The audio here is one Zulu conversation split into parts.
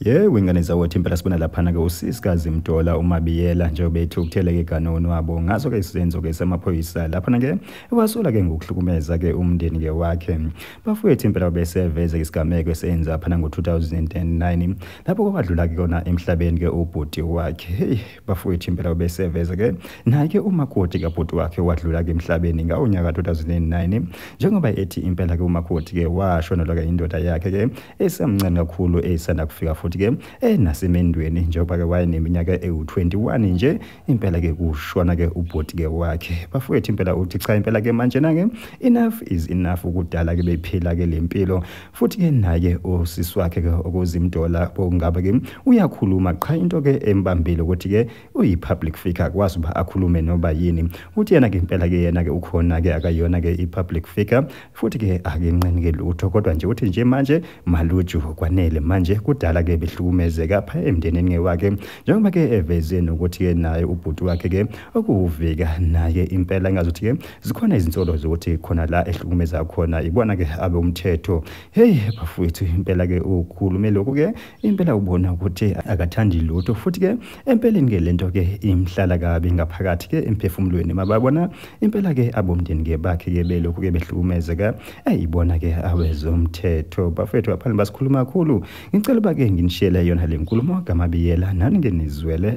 yewe ingane zawothi impela sibona laphana-ke usisikazi mdola umabiyela njengoba ethi ukutheleke ganono wabo ngaso-ke isenzo-ke samaphoyisa laphana-ke iwasola-ke ngokuhlukumeza-ke umndeni-ke wakhe bafowethu impela babeseveze isigameko esenza phana ngo-2009 lapho kwabadlula-ke kona emhlabeni-ke ubhuti wakhe heyi bafowethu impela ubeseveza ke naye-ke umakoti kabhuti wakhe wadlula-ke emhlabeni ngawo nyaka 2009 njengoba ethi impela-ke umakoti-ke washonelwa-ke indoda yakhe-ke esamncane kakhulu eyisanda kufika futhi-ke enasemendweni njengoba-ke wayeneminyaka ewu-21 nje impela-ke kushona-ke ubhuti-ke wakhe bafowethu impela uthi cha impela-ke manjena-ke enough is enough ukudala-ke bephila-ke le mpilo futhi ke naye usisi wakhe ke okuzimdola bokungaba ke uyakhuluma qha into ke embambile ukuthi ke uyi public figure akwazi uba akhulume noba yini uthi yena ke impela ke yena ke ukhona ke akayona ke i public figure futhi ke akenqeni ke lutho kodwa nje uthi nje manje maluju kwanele manje kudala ke behlukumezeka pha emndenini ngewakhe njengoba ke eveze nokuthi ke naye ubhuti wakhe ke okuwuvika naye impela engazuthi ke zikhona izinsolo zokuthi khona la ehlukumeza khona ibona ke abe umthetho hey bafowethu impela ke ukhulume lokhu ke impela ubona ukuthi akathandi lutho futhi ke empeleni ke lento ke imhlala kabi ngaphakathi ke emphefumulweni mababona impela ke abomndeni ke bakhe ke belokhu ke behlukumezeka ayibona ke awezomthetho bafowethu aphani basikhuluma kakhulu ngicela uba ke nginishiyele yona le nkulumo kamabiyela nani ke nizwele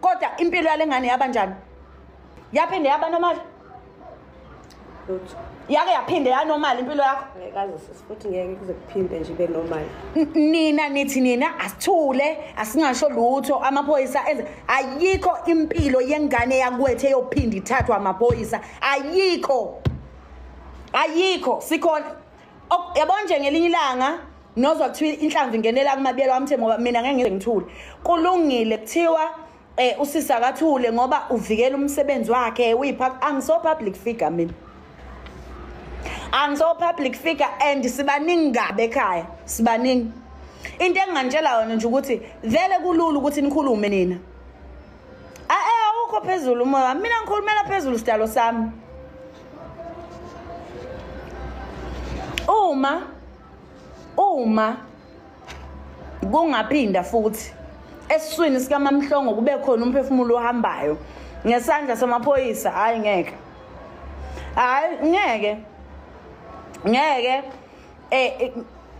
kodwa impilo yale ngane yaba njani yaphinde yaba nomali lutho yake yaphinde yanomali impilo yakho ngekaze sisifuthi ngeke kuze kuphinde nje ibe normal nina nithi nina asithule asingasho lutho amaphoyisa enze ayikho impilo yengane yakwethe yophinda ithathwa amaphoyisa ayikho ayikho sikhona yabona nje ngelinye ilanga nozwa kuthiwa inhlamvu ingenela kumabiyelo wamthe ngoba mina ngeke ngize ngithule kulungile kuthiwa eh usisi akathule ngoba uvikela umsebenzi wakhe uyiphak angiso public figure mina angiso public figure and sibaningi kabe ekhaya sibaningi into engangitshela yona nje ukuthi vele kulula ukuthi nikhulume nina ae awukho phezulu umoya wami mina ngikhulumela phezulu sidalo sami uma uma kungaphinda futhi esiswini sikamamhlongo kube khona umphefumulo ohambayo ngesandla samaphoyisa hayi ngeke hayi ngeke ngeke eh, eh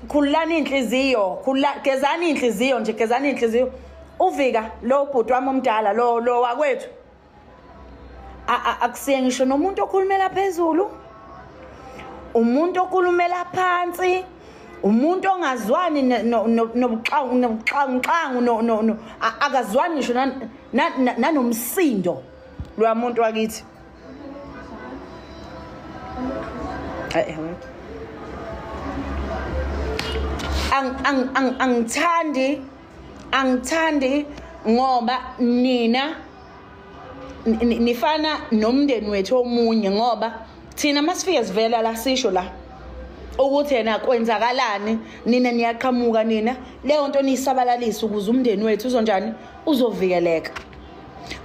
khululani inhliziyo khulula gezani inhliziyo nje gezani inhliziyo uvika lo bhuti wami omdala lo lo wakwethu akusiye ngisho nomuntu okhulumela phezulu umuntu okhulumela phansi umuntu ongazwani nobuxangu nobuxangu akazwani ngisho nanomsindo lwamuntu wakithi angithandi angithandi ngoba nina nifana nomndeni wethu omunye ngoba thina masifike sivela la sisho la ukuthi yena kwenzakalani nina niyaqhamuka nina leyo nto niyisabalalisa ukuze umndeni wethu uzonjani uzovikeleka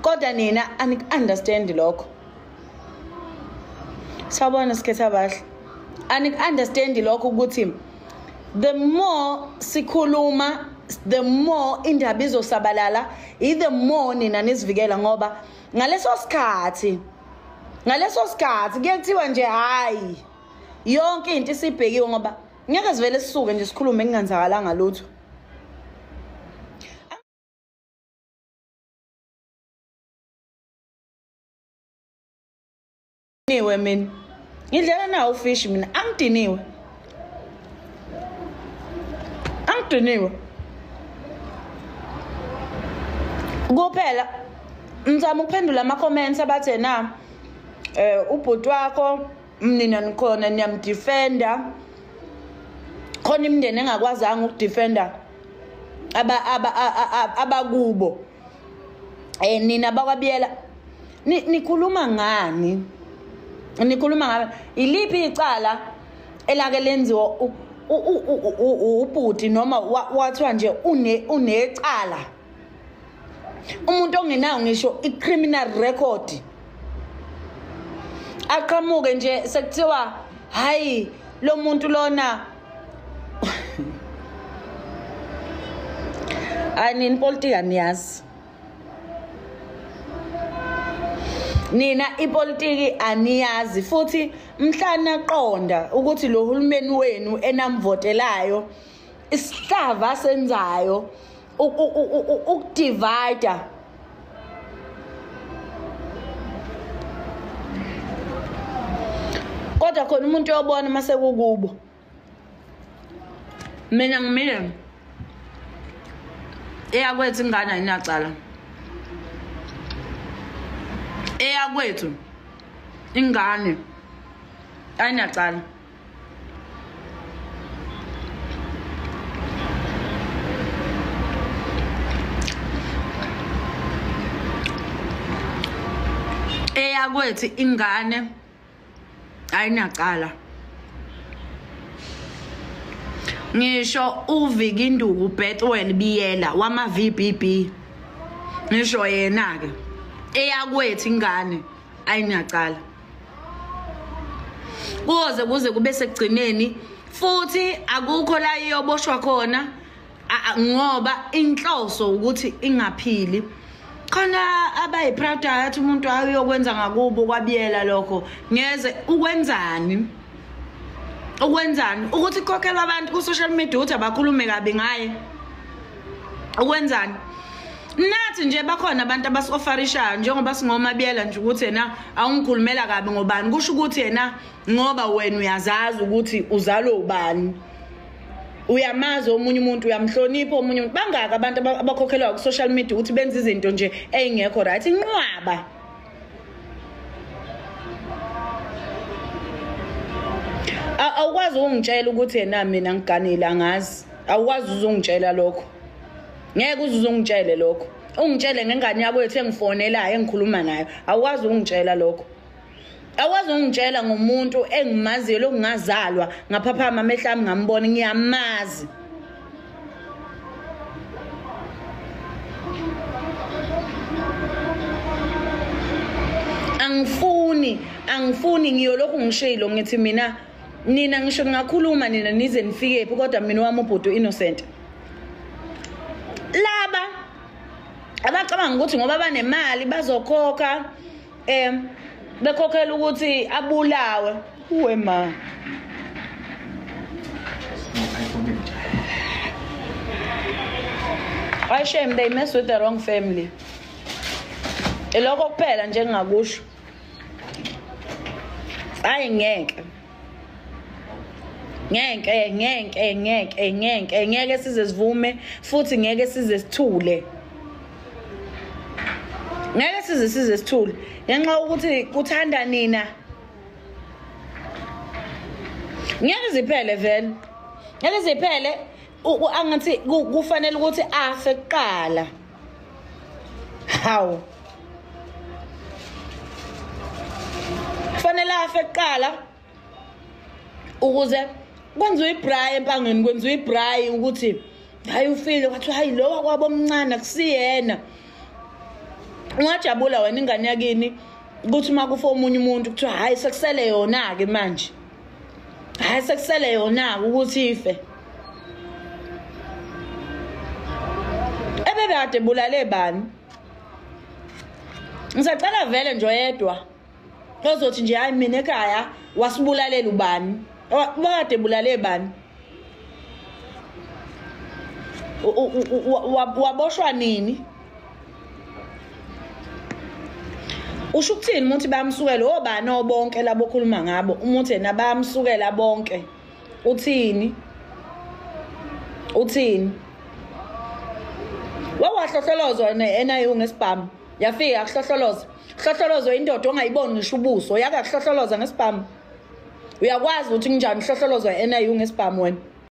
kodwa nina aniku-understandi lokho sawubona sikhetha bahle aniku-understandi lokho ukuthi the more sikhuluma the more indaba izosabalala i-the more nina nizivikela ngoba ngaleso sikhathi ngaleso sikhathi kuyekuthiwa nje hhayi yonke into isibhekiwe ngoba ngeke sivele sisuke nje sikhulume kungenzakalanga lutho Niwe mina. Ngidlela nawo fish mina angidiniwe. Angidiniwe. Kuphela ngizama ukuphendula ama comments abathe na eh ubhuti wakho mnina nikhona niyamdefenda khona imndeni engakwazanga ukudefenda aba aba abakubo eh nina bakwabiyela nikhuluma ngani nikhuluma ngabe iliphi icala elake lenziwa ubhuti noma wathiwa nje unecala umuntu ongenayo ngisho i-criminal record aqhamuke nje sekuthiwa hayi lo muntu lona hayi nini politika niyazi nina ipolitiki aniyazi futhi mhla naqonda ukuthi lo hulumeni wenu enamvotelayo isihlava senzayo ukudivida kodwa khona umuntu yobona uma sekukubo mina ngimile eyakwethu ingane ayinacala eyakwethu ingane ayinacala eyakwethu ingane ayinacala ngisho uvikinduku betwel biyela wama-vbb ngisho yena-ke eyakwethu ingane ayinacala kuze kuze kube sekugcineni futhi akukho la iyoboshwa khona ngoba inhloso ukuthi ingaphili khona abayi-proud ayathi umuntu ayokwenza ngakubo kwabiyela lokho ngeze ukwenzani ukwenzani ukuthi kukhokhelwa abantu ku-social media ukuthi abakhulume kabi ngaye ukwenzani nathi nje bakhona abantu abasofarishayo njengoba singomabiyela nje ukuthi yena awungikhulumela kabi ngobani kusho ukuthi yena ngoba wena uyazazi ukuthi uzalwe ubani uyamazi omunye umuntu uyamhlonipha omunye umuntu bangaka abantu abakhokhelwa ku-social media ukuthi benze izinto nje ey'ngekho right inqwaba awukwazi ungitshela ukuthi yena mina ngiganile angazi awukwazi uzungitshela lokho ngeke uze uzungitshele lokho ungitshele ngengane yakwethu engifonelayo engikhuluma nayo awukwazi ungitshela lokho awukwazi ungitshela ngomuntu engimaziyo lokungazalwa ngaphaphama amehla ami ngambona ngiyamazi angifuni angifuni ngiyolokhu ngishilo ngithi mina nina ngisho ningakhuluma nina nize nifikephi kodwa mina wami ubhuti u-innocent laba abacabanga ukuthi ngoba banemali bazokhokha um bekhokhela ukuthi abulawe uwe ma I shame they mess with the wrong family. Ilokho kuphela nje ngingakusho. Hayi ngeke. ngeke ngeke ngeke ngeke ngeke size sivume futhi ngeke size sithule ngeke size size sithule ngenxa ukuthi kuthanda nina ngeke ziphele vele ngeke ziphele angathi kufanele ukuthi afe kuqala hawu kufanele afe kuqala ukuze kwenziwe ibrayi empangeni kwenziwe ibrayi ukuthi hayi ufile wathi hayi lo wakwabo omncane akusiyena ungajabula wena ingane yakini ukuthi uma kufa omunye umuntu kuthiwa hhayi sekusele yona-ke manje hayi sekusele yona-ke ukuthi ife ebebekade bulale bani ngisacela vele nje oyedwa ozothi nje hayi mina ekhaya wasibulalela ubani wakade bulale bani waboshwa nini usho ukuthini umuthi bayamsukela obani obonke labo okhuluma ngabo umuthi yena bayamsukela bonke uthini uthini wawahlohlolozwa ne-niu ngesibhamu yafika yakuhlohloloza hlohlolozo indoda ongayiboni ngisho ubuso yake yakuhlohloloza ngesibhamu uyakwazi ukuthi kunjani uhlohlolozo e-niu ngesibhamu wena